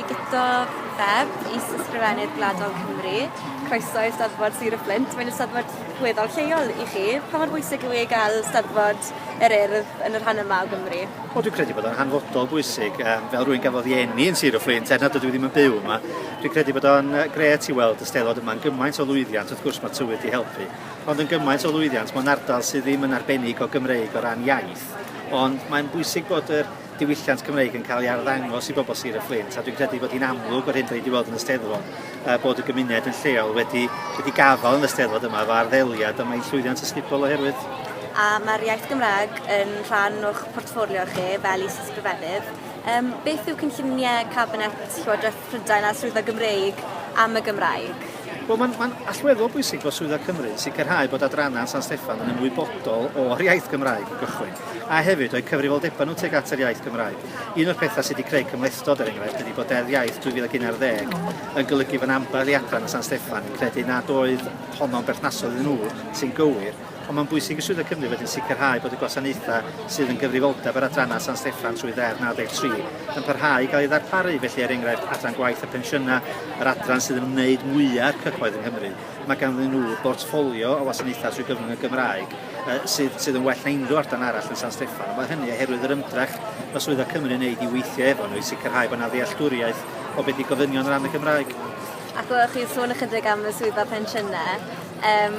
Guto Bebb, Is-ysgrifennydd Gwladol Cymru. Croeso i Steddfod Sir y Fflint. Mae'n Steddfod weddol lleol i chi. Pa mor bwysig yw ei gael Steddfod yr Urdd yn yr rhan yma o Gymru? Wel, dwi'n credu bod o'n hanfodol bwysig, um, fel rwy'n gafodd ei enni yn Sir y Fflint, er nad ydw i ddim yn byw yma. Dwi'n credu bod o'n gret i weld y stelod yma'n gymaint o lwyddiant, wrth gwrs mae tywydd i helpu, ond yn gymaint o lwyddiant mae'n ardal sydd ddim yn arbennig o Gymreig o ran iaith. Ond mae'n bwysig bod yr diwylliant Cymreig yn cael ei arddangos i bobl Sir y Fflint a dwi'n credu bod hi'n amlwg o'r hyn da ni wedi weld yn y Steddfod uh, bod y gymuned yn lleol wedi, wedi gafael yn y Steddfod yma fo arddeliad a mae'n llwyddiant ysgubol oherwydd. A mae'r iaith Gymraeg yn rhan o'ch portffolio chi fel is-ysgrifennydd. Um, beth yw cynlluniau Cabinet Llywodraeth Prydain a swyddfa Gymreig am y Gymraeg. Wel, mae'n ma allweddol bwysig bod Swyddfa Cymru yn sicrhau bod adrannau San Steffan yn ymwybodol o'r iaith Gymraeg o gychwyn, a hefyd o'i cyfrifoldebau nhw tuag at yr iaith Gymraeg. Un o'r pethau sydd wedi creu cymhlethdod, er enghraifft, ydy bod Deddf Iaith 2011 yn golygu fod ambell i adran o San Steffan yn credu nad oedd honno'n berthnasol iddyn nhw, sy'n gywir, Ond mae'n bwysig i Swyddfa Cymru wedyn sicrhau bod y gwasanaethau sydd yn gyfrifoldeb yr adrannau San Steffan trwy Ddeddf 93 yn parhau i gael ei ddarparu, felly er enghraifft Adran Gwaith a Phensiynau, yr adran sydd yn ymwneud mwya' â'r cyhoedd yng Nghymru, mae ganddyn nhw bortffolio o wasanaethau trwy gyfrwng y Gymraeg sydd sydd yn well na unrhyw adran arall yn San Steffan, ond mae hynny oherwydd yr ymdrech mae Swyddfa Cymru yn wneud i weithio efo nhw i sicrhau bod 'na ddealltwriaeth o beth i gofynion o ran y Gymraeg. Ac oeddech chi'n sôn ychydig am y Swyddfa Pensiynau. Yym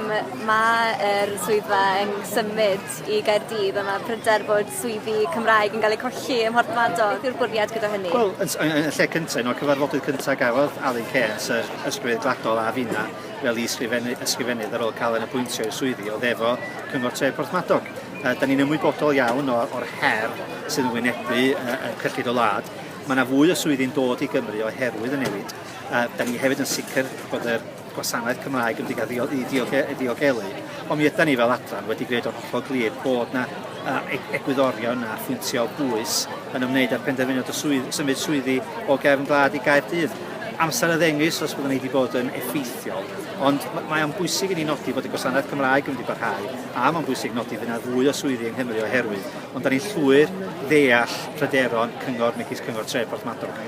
ma' yr swyddfa yn symud i Gaerdydd a ma' pryder bod swyddi Cymraeg yn ga'l eu colli ym Mhorthmadog. Beth yw'r bwriad gyda hynny? Wel yn s- yy yn y lle cynta un o'r cyfarfodydd cynta gafodd Alun Cairns yr Ysgryfeydd Gwladol a finna fel i ysgrifennu ysgrifennydd ar ôl cael yn apwyntio i'r swyddi o'dd efo Cyngor Tref Porthmadog. Yy 'dan ni'n ymwybodol iawn o o'r her sydd yn wynebu yy y cyllid y wlad. Ma' 'na fwy o swyddi'n dod i Gymru oherwydd y newid. Yy 'dan ni hefyd yn sicr bod yr gwasanaeth Cymraeg yn diogelu, i diogelu, diogelu. Ond mi ydan ni fel adran wedi gwneud o'n hollol glir bod na uh, egwyddorion a phwyntiau o bwys yn ymwneud â'r penderfyniad o swydd, symud swyddi o gefn glad i Gaerdydd. Amser a ddengys os byddwn ni wedi bod yn effeithiol, ond mae o'n bwysig i ni nodi bod y gwasanaeth Cymraeg yn mynd i barhau, a mae'n bwysig nodi fydd yna fwy o swyddi yng Nghymru oherwydd, ond da ni'n llwyr ddeall pryderon cyngor megis cyngor tref Porthmadog.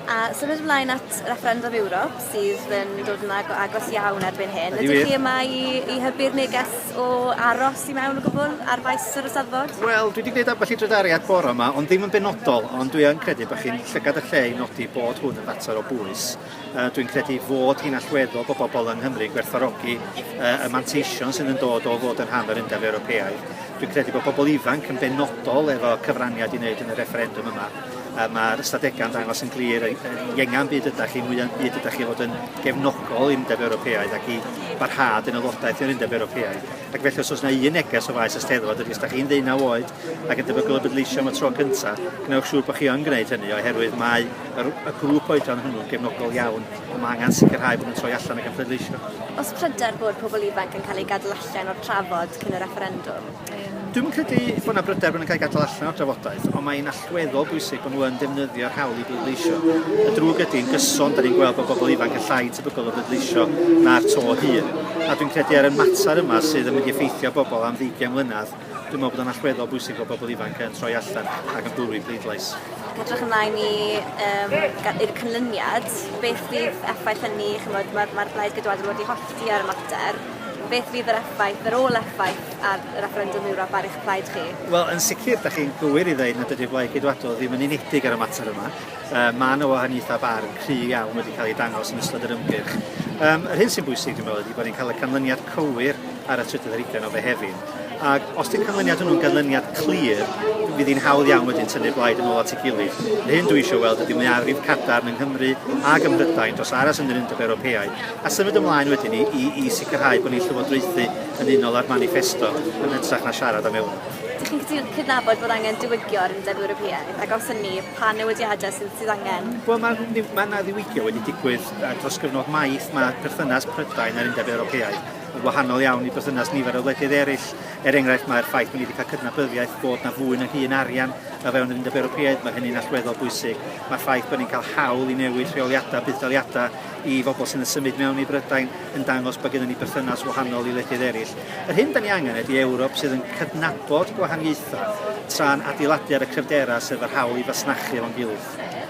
A symud ymlaen at refferendum Ewrop, sydd yn dod yn ag- agos iawn erbyn hyn. Ydy wir? Ydych chi yma i, i hybu'r neges o aros i mewn o gwbl ar faes yr ysadfod? Wel, dwi wedi gwneud ambell i drydariad bore yma, ond ddim yn benodol, ond dwi yn credu bod chi'n llygad y lle i nodi bod hwn yn fater o bwys. Uh, dwi'n credu fod hi'n allweddol bod bobl yng Nghymru gwerthfarogi uh, y manteision sydd yn dod o fod yn rhan o'r Undeb Ewropeaidd. Dwi'n credu bod pobl ifanc yn benodol efo cyfraniad i wneud yn y refferendwm yma. a mae'r ystadegau'n dangos yn glir yn iengan byd ydych chi, mwyaf byd ydych chi fod yn gefnogol i'n Undeb Ewropeaidd ac i barhad yn aelodaeth i'r Undeb Ewropeaidd. Ac felly os oes yna un neges o faes ysteddfod ydy, os ydych chi'n ddeunaw oed ac yn debygol o bleidleisio am y tro cyntaf, gwnewch siŵr bod chi yn gwneud hynny oherwydd mae yr, y grŵp oedran hwnnw'n gefnogol iawn a mae angen sicrhau bod nhw'n troi allan ac yn pleidleisio. Os pryder bod pobl ifanc yn cael eu gadw allan o'r trafod cyn y refferendwm, Dwi'm yn credu bod 'na bryder bod nhw'n cael eu gadael allan o'r drafodaeth, ond mae'n allweddol bwysig bod nhw yn defnyddio'r hawl i bleidleisio. Y drwg ydy, yn gyson, da ni'n gweld bod bobl ifanc yn llai tebygol o bleidleisio na'r to hŷn. A dwi'n credu ar y mater yma sydd yn mynd i effeithio bobl am ddeugain mlynedd, dwi'n meddwl bod o'n allweddol bwysig bod bobl ifanc yn troi allan ac yn bwrw i bleidlais. Edrych ymlaen i um, i'r cynlyniad, beth fydd effaith hynny, chymod, mae'r mae Blaid Geidwadol wedi hollti ar y mater, beth fydd yr effaith, yr ôl effaith ar y refferendwm yw'r afael eich plaid chi? Wel, yn sicr, da chi'n gywir i ddeud nad ydy'r Blaid Geidwadol ddim yn unedig ar y mater yma. Um, mae yna wahaniaethau barn cry iawn wedi cael ei dangos yn ystod yr ymgyrch. Um, yr hyn sy'n bwysig, dwi'n meddwl, ydy bod ni'n cael y canlyniad cywir ar y trydydd ar ugen o Fehefin. Ac os di'r canlyniad hwnnw'n ganlyniad clir, fydd hi'n hawdd iawn wedyn tynnu'r blaid yn ôl at ei gilydd. Yr hyn dwi eisiau weld ydy mwyafrif cadarn yng Nghymru ac ym Mhrydain dros aros yn yr Undeb Ewropeaidd a symud ymlaen wedyn i, i, i sicrhau bod ni'n llywodraethu yn unol â'r maniffesto yn hytrach na siarad am eu Dych chi'n cydnabod bod angen diwygio yr Undeb Ewropeaidd a gawson ni, pa newidiadau sydd sydd angen? Wel, mae yna ma ddiwygio wedi digwydd uh, dros gyfnod maith. Mae perthynas Prydain a'r Undeb Ewropeaidd yn wahanol iawn i berthynas nifer o wledydd eraill. Er enghraifft, mae'r ffaith bod ni wedi cael cydnabyddiaeth bod na fwy na hun arian o fewn yr Undeb Ewropeaidd, mae hynny'n allweddol bwysig. Mae'r ffaith bod ni'n cael hawl i newid rheoliadau, buddsoddiadau, i fobl sydd yn symud mewn i Brydain yn dangos bod gennym ni berthynas wahanol i wledydd eraill. Yr hyn da ni angen ydy Ewrop sydd yn cydnabod gwahaniaethau tra'n adeiladu ar y cryfderau sef yr hawl i fasnachu efo'n gilydd.